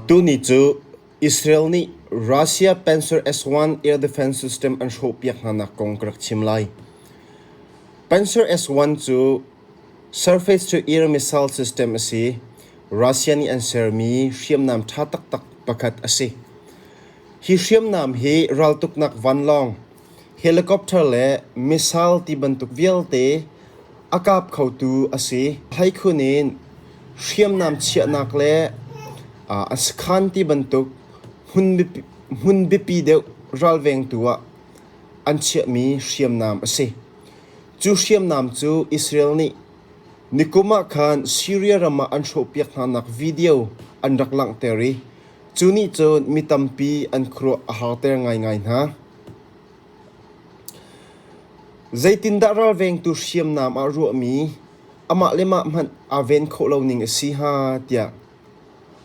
Tuni cu Israel nih Russia Panzer S-1 air defense system an hrawhpiak hnanak kong ka rak chim lai. Panzer S-1 cu surface to air missile system a si. Russia nih an sermi hriamnam ṭha taktak pakhat a si. Hi hriamnam hi raltuknak vanlawng, helicopter le missile ti bantuk vialte a kap khotu a si. Hleikhun in hriamnam chiahnak le a sakhan ti bantuk hmun biapi deuh ralveng tu ah an chiahmi hriamnam a si. Cu hriamnam cu Israel nih nikum ah khan Syria ram ah an hrawhpiak hnanak video an rak langhter i Cu nih cun mi tampi an khuaruah a harter ngaingai hna. Zeitindah ralvengtu hriamnam ah ruahmi amah le mah hmanh aa ven khawh lo ning a si hnga tiah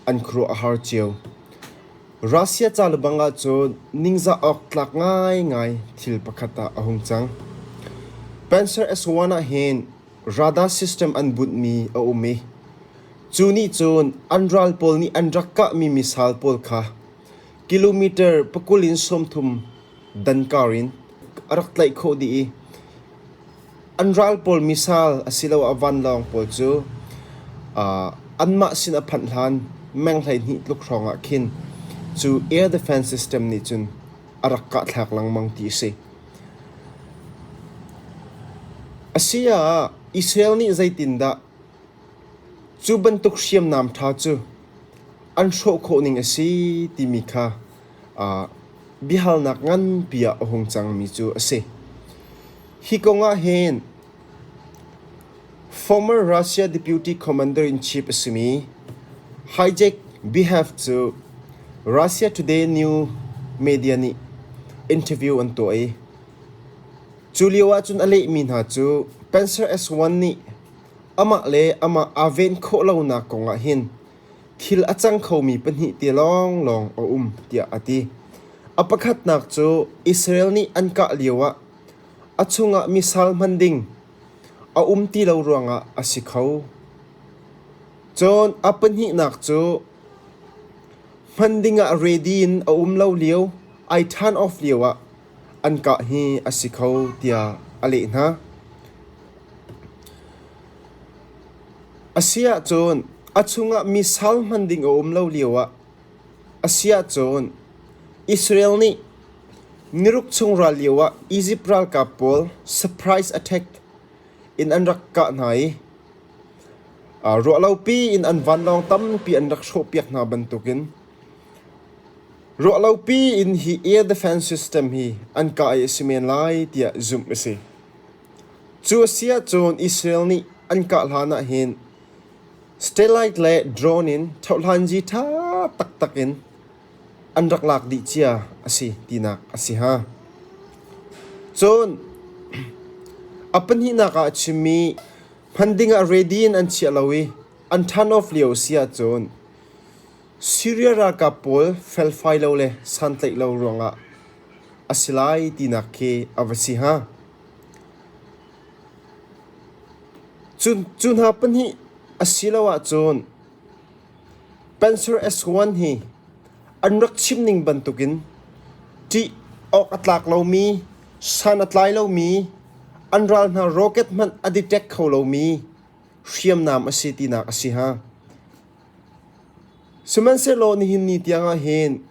an khuaruah a har cio. Russia ca le bang ahcun ningzah awk tlak ngaingai thil pakhat ah a hung cang. Panzer S-1 ah hin Radar system an bunhmi a um i cu nih cun an ral pawl nih an rak kahmi misal pawl kha kilometer pakul in sawmthum dan kar in a rak tlaih khawh dih i an ral pawl misal asiloah vanlawng pawl cu anmah sin a phanh hlan meng hleihnih tluk hrawngah khin cu air defence system nih cun a rak kahthlak lengmang ti a si. Asiah, Israel nih zeitindah cu bantuk hriamnam ṭha cu an hrawh khawh ning a si timi kha biahalnak nganpi ah a hung cangmi cu a si. Hi kong ah hin Former Russia deputy commander-in-chief a simi Hijek Bihef cu Russia Today new media nih interview an tuah i cu lio ahcun a lehmi hna cu Panzer S-1 nih amah le amah aa ven khawh lonak kong ahhin thil a cang khomi pahnih te lawnglawng a um tiah a ti. A pakhatnak cu Israel nih an kah lio ah A chungah misal hman ding a um ti lo ruangah a si kho. Cun a pahnihnak cu hman dingah ready in a um lo lio, ai turn off lio ah an kah hi a si kho tiah a leh hna. A si ahcun a chungah misal hman ding a um lo lio ah A si ahcun Israel nih niruk chung ral lioah Izipt ralkap pawl surprise attack in an rak kah hna i ruahlopi in an vanlawng tampi an rak hrawhpiak hna bantukin ruahlopi in hi air defence system hi an kah i a si men lai tiah zumh a si. Cu a si ahcun Israel nih an kah hlanah hin Satellite le drone in thohlanzi ṭha taktak in an rak lak dih cia a si tinak a si hnga. Cun a pahnihnak ah a chimmi hman dingah ready in an chiah lo i an turn off lio a si ahcun Syria ralkap pawl felfai lo le santlaih lo ruangah a si lai tinak khi a va si hnga. Cu hna pahnih asiloah cun Panser S1 hi an rak chim ning bantukin ṭih awk a tlak lomi, san a tlai lomi, an ral hna rocket hmanh a detect kho lomi hriamnam a si tinak a si hnga. Sihmanhsehlaw nihin ni tiangah hin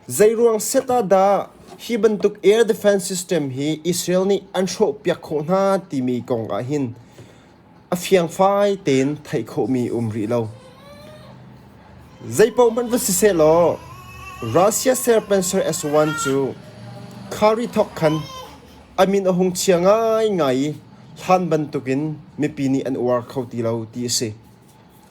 zeiruang set ah dah hi bantuk air defense system hi Israel nih an hrawhpiak khawh hna timi kong ah hin a fiangfai tein theih khawhmi a um rih lo. Zeipohmanh va si seh law Russia Serpancer S-1 cu khari thawk khan a min a hung chia ngaingai i hlan bantukin mipi nih an uar kho ti lo ti a si.